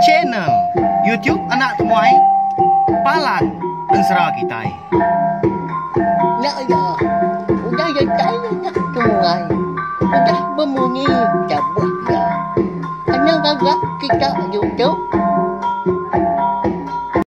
Channel YouTube Anak Temuai Palan Ensera Kitai. Nya iya, udah jai anak temuai, udah bemunyi jabuh iya. Kena ngaga kita YouTube.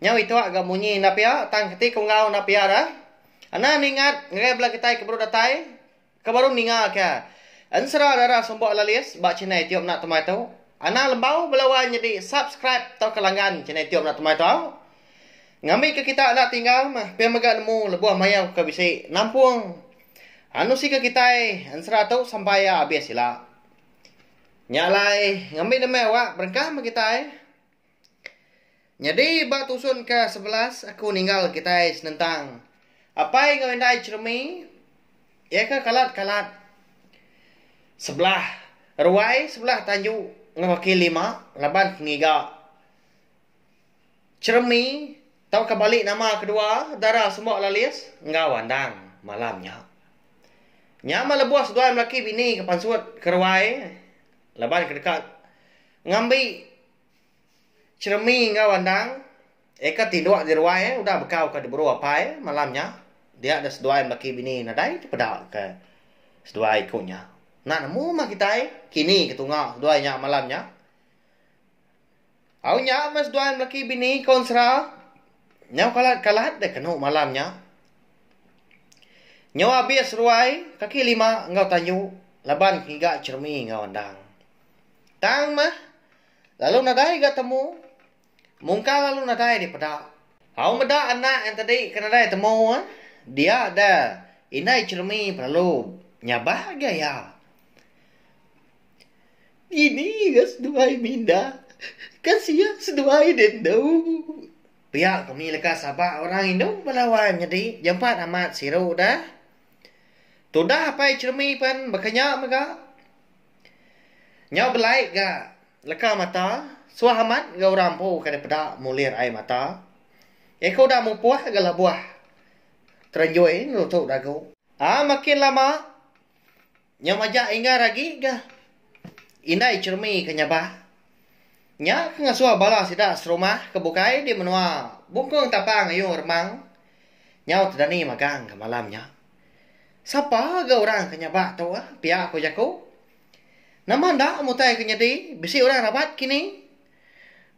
Nyau ituak ga munyi enda pia tang keti ke enggau enda pia dah. Anan ingat ngerai bela kitai ke baru datai ke baru ninga ke ensera dara sumbok lalis ba channel itup enda temai tu. Anan lembau bela wai nyedi subscribe tauka langgan channel itup enda temai tau. Ngambi ke kita enda tinggal meh pia mega nemu lebuh mayau ke bisi nampung anusi ke kitai ensera tu sampai ia abis ila. Nya alai ngambi demi awak berengkah meh kitai. Nyadi ba tusun ke sebelas aku ninggal kitai senentang apai enggau indai Cheremi iya ke kalat kalat sebelah ruai sebelah tanju enggau kaki lima laban ke ngiga Cheremi tauka bali nama kedua dara semba lalis enggau andang malam nya. Nya meh lebuh seduai melaki bini ke pansut ke ruai laban ke deka ngambi Cheremie enggau andang eka tinduk di ruai udah bekau ka diburu apai malam nya dia deh seduai laki bini nadai dipeda ka seduai ku nya. Enda nemu mah kitai kini ke tunga seduai nya malam nya. Au nya meh seduai laki bini kaun sera nyau kalat kalat deh kenu malam nya. Nyau abis ruai kaki lima enggau tanju laban ke ngiga cheremie enggau andang. Tang mah, lalu nadai ga temu. Mungkal lalu nadai dipeda. Au meda anak entadi ke nadai temu eh, dia da indai cheremi belalu nyabah ga iya. Ini ga seduai minda, ka sia seduai deh endu. Pia kami leka saba orang indu bala wai menyadi jampat amat siru da. Tudah apai cheremi pen baka nya mega. Nyau belai ga leka mata, suah amat enggau orang empu ke deh peda mulir ai mata. Iko udah mupoh ga lebuh terenjoi nutu dagu. Aa makin lama nyau majak ingar agi ga indai cheremi ke nyabah. Nya ke ngasuh bala sida serumah ke bukai di menua Bungkung Tapang ayu remang nyau tedani magang ga malam nya. Sapa ga orang ke nyabak tu ah, pia ko jaku. Nama enda mutai ke nyadi bisi orang rabat kini?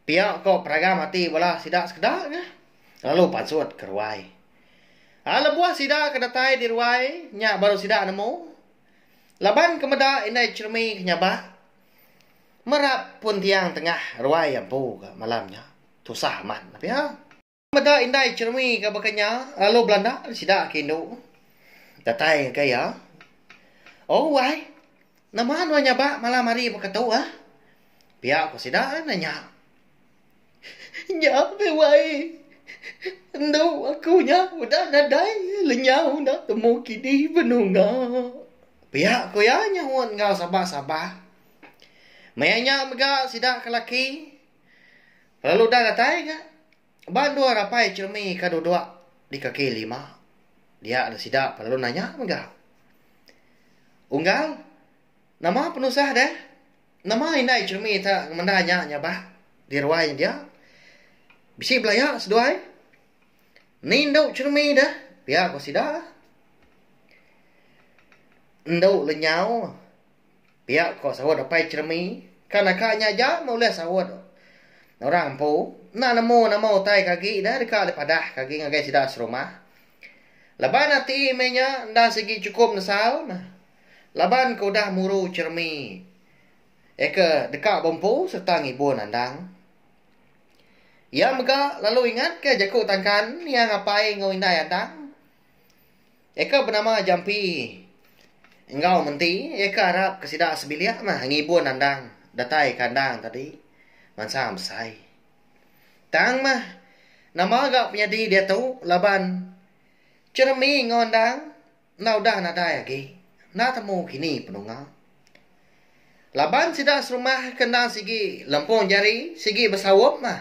Pia ko peragam ati bala sida sekeda ga, lalu pansut ke ruai. A lebuh sida ke datai di ruai nya baru sida nemu, laban ke meda indai cheremi ke nyabak merap pun tiang tengah ruai ampu ga malam nya. Tusah amat pia. Meda indai Chermi ga baka nya lalu belanda sida ke indu datai ngagai iya. Oh wai, nama nuan nyabak malam hari baka tu ah? Pia ku sida nanya. Nya meh wai, endu aku nya udah nadai lenyau enda temu kini benunga. Pia ku iya nyahut enggau sabar-sabar. Maya nya mega sida ke laki. Lalu udah datai ga ba endur rapai Chirmi ka duduk di kaki lima. Dia ne sida pa lalu nanya mega. Unggal, nama penusah deh? Nama indai Chirmi ta ngemendar nya nyabak di ruai nya dia? Bisi belaya seduai? Ni endu Chirmi deh? pia ku sida. Endu lenyau. Pia ko saut Apai Cheremi, ka naka nya aja meulih saut orang empu enda nemu nama utai ke agi ida deka dipadah ke agi ngagai sida serumah. Laban ati meh nya enda sigi chukup nesal meh laban ke udah muru Cheremi eka deka bempu sereta ngibun andang. Iya mega lalu ingatka jaku tangkan niang apai enggau indai andang. Iya ke benama Jampi enggau menti iya ke arap ke sida sebilik meh ngibun andang datai ke andang tadi mansang besai. Tang meh nama ga penyadi diatu laban Jeremy enggau andang enda udah nadai agi enda temu kini penunga. Laban sida serumah ke endang sigi lempung jari sigi besaup meh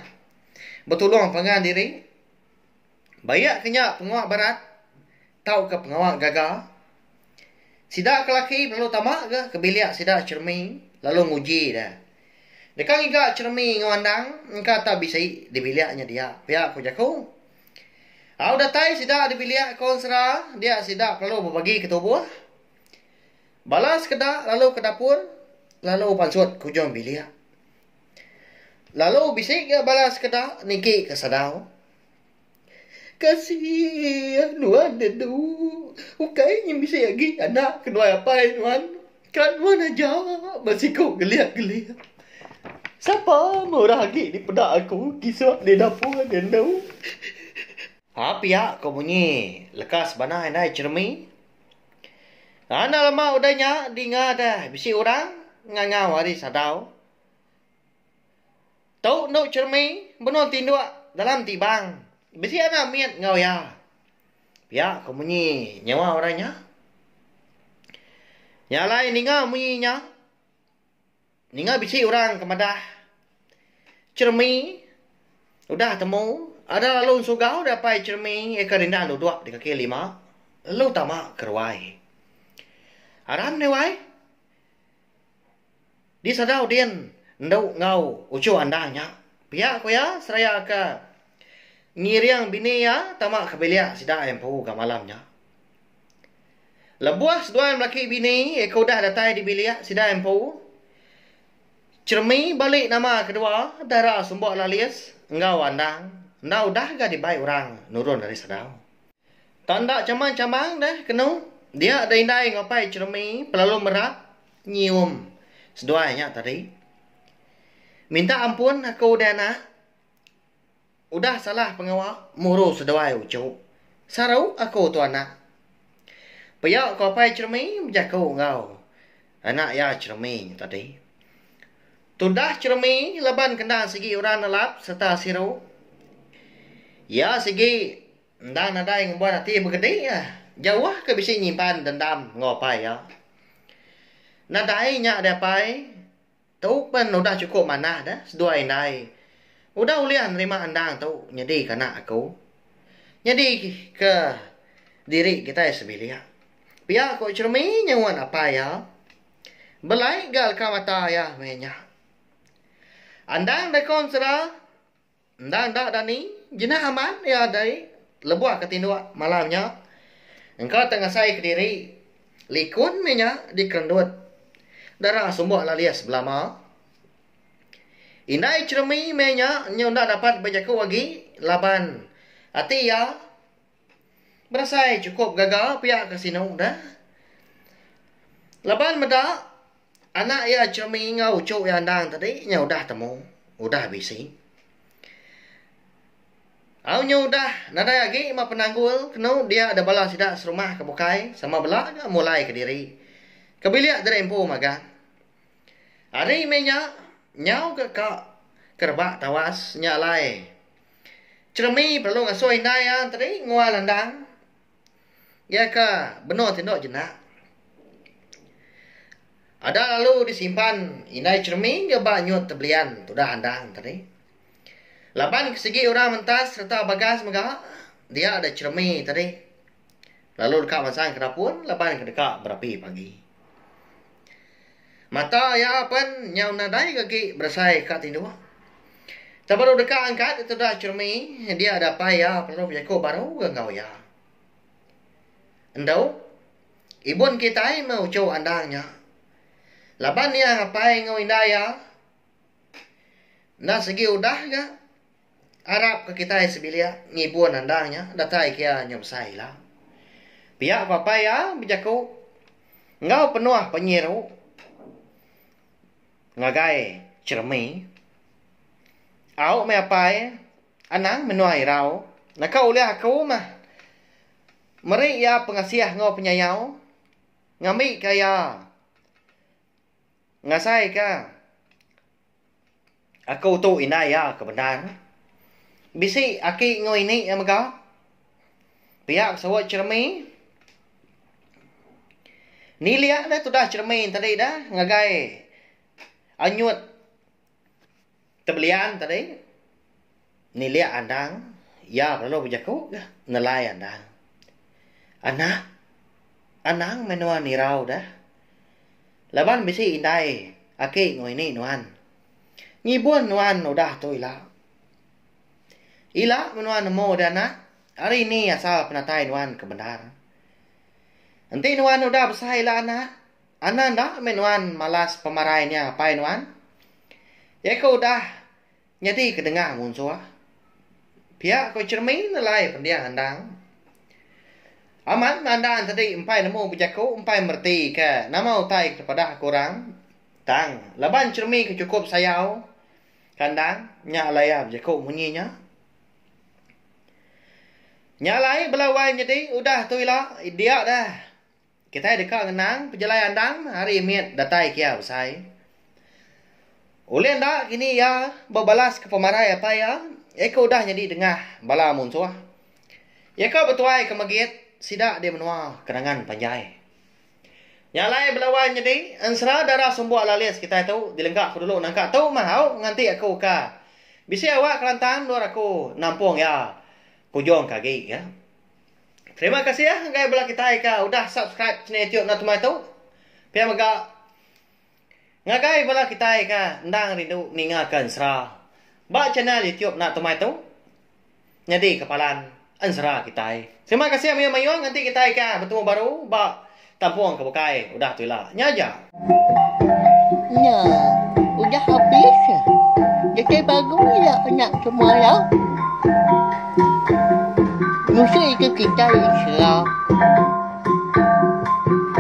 betulung pangan diri. Bayak ke nya pengawa barat tauka pengawa gaga. Sida ke laki belalu tama ga ke bilik sida Chermi lalu nguji dia. Deka ngiga Chermi enggau Andang engka tak bisi di bilik nya dia pia ku jaku. Au datai sida di bilik ko ensera dia sida belalu bebagi ke tubuh. Bala sekeda lalu ke dapur lalu pansut ke ujung bilik. Lalu bisi ga bala sekeda niki ke sadau. Kasih nuan nya tu ukai nya bisi agi anak kenuai apai nuan ka nuan aja ba siko geliak geliak sapa meh orang agi dipeda aku tisiok di dapur nya tu. Ha pia ko munyi leka sebana indai jeremie enda lama udah nya dinga deh bisi orang ngangau ari sadau. Tu endu Chermi benung tinduk dalam tibang bisi anak mit enggau iya. Pia ko munyi nyawa orang nya. Nya alai ninga munyi nya ninga bisi orang ke madah Chermi udah temu ada lalu ensugau da pai Chermi eka dinda duduk di kaki lima lalu tama ke ruai. Aram deh wai. Di sagau din endu enggau uchu andang nya, pia ku iya seraya ke ngiring bini iya tama ke bilik sida empu ga malam nya. Lebuh seduai melaki bini iko udah datai di bilik sida empu, Chermi bali nama kedua dara Sumbok Lalis enggau Andang enda udah ga dibai orang nurun ari sagau. Tanda chamang-chamang deh kenu dia da indai ngupai Chermi pelalu merat nyium seduai nya tadi. Minta ampun aku udah anak udah salah pengawa muru seduai uchu. Saru aku tu anak. Pia ko apai Cheremy bejaku enggau anak iya Cheremy nya tadi. Tudah Cheremy laban kenda sigi orang nelap sereta siru. Iya sigi. Enda nadai ngembuan ati begedi jauh ke bisi nyimpan dendam enggau apai iya. Nadai nya deh apai, tu pen udah chukup manah deh seduai indai udah ulih nerima endang tu nyadi ke anak aku. Nyadi ke diri kitai sebilik. Pia ku Chermi nyuan apai iya. Belai ga leka mata iya meh nya. Endang Daikon sera Enda enda Dani, jina aman iya dei lebuh ke tinduk malam nya. Engka te ngasai kediri, likun mih nya dikerendut dara sumbok lalis belama. Indai Cheremie meh nya nyu enda dapat bejaku agi laban ati iya. Berasai chukup gaga pia ka sinu dah. Laban meda anak iya Chemi enggau uchu iya endang tadi nya udah temu, udah bisi. Au nya udah nadai agi meh penanggul kenu dia da bala sida serumah ke bukai sama bela nya mulai kediri ke bilik diri empu magang. Ari meh nya nyau ke ka ke rebak tawas nya alai. Jeremy perelu ngasuh indai iya tadi ngua landang iya ke benung tinduk jenak. Ada lalu disimpan indai Jeremy dia ba nyut tebelian tudah andang tadi. Laban ke sigi orang mentas sereta bagas mega dia da Jeremy tadi lalu deka mansang ke rapun laban ke deka berapi pagi. Mata iya pen nyau nadai agi berasai ka tinduk. Tang baru deka angkat ditu da Chermi, dia dapai iya perlu bejaku baru ga enggau iya. Endo, ibun kitai meh uchu andang nya. Laban iya ngapai enggau indai iya enda sigi udah ga. Arap ke kitai sebilik ngibun andang nya datai kia nya besai ila. Pia papai iya bejaku enggau penuh penyiru ngagai Jeremy, Au meh apai, anang menua irau naka ulih aku meh meri iya pengasih enggau penyayau ngambika iya ngasaika Aku tu indai iya ke bendar meh. Bisi aki enggau ini iya mega. Pia ke suwe Cheremy. Nilik deh tudah Cheremy tadi deh ngagai anyut tebelian tadi. Nilik Anang, iya lalu bejaku ga nelai Anang. Anak, Anang meh nuan irau da. Laban bisi indai aki enggau ini nuan. Ngibun nuan udah tu ila. Ila meh nuan nemu dia anak, ari ini asal penatai nuan ke bendar. Enti nuan udah besai ila anak, Anang enda meh nuan malas pemarai nya apai nuan. Iya ke udah. Nyadi ke dengah munsuh. Pia ko Chermi nelai pendiah Andang. Amat Andang tadi empai nemu bejaku empai mereti ke nama utai ke tepadah ke orang. Tang laban Chermi ke chukup sayau ke Andang nya alai iya bejaku munyi nya. Nya alai bela wai nyadi udah tu ila dia dah. Kitai deka ngenang pejalai andang hari mit datai kia besai. Ulih enda kini iya bebalaska pemarai apai iya, iya ke udah nyadi dengah bala munsuh. Iya ke betuaika megit sida di menua Kenangan Panjai. Nya alai bela wai menyedi, ensera darah sumbuk lalis kitai tu dilengka ku dulu nangka tu mah au nganti aku ka. Bisi awak kelantang endur aku nampung iya ke ujung ke agi. Terima kasih ya enggai bela kitai ka udah subscribe channel YouTube Nau Tumai tu. Pia mega ngagai bela kitai ka endang rindu ninga ka ensera ba channel YouTube Nau Tumai tu nyadi kepalan ensera kitai. Terima kasih mayuh-mayuh nganti kitai ka betemu baru ba Tampung ke bukai udah tu ila. Nya aja. Nya udah habis. Dekai pagu ila anak semalau. Ngusui ke kitai Islam.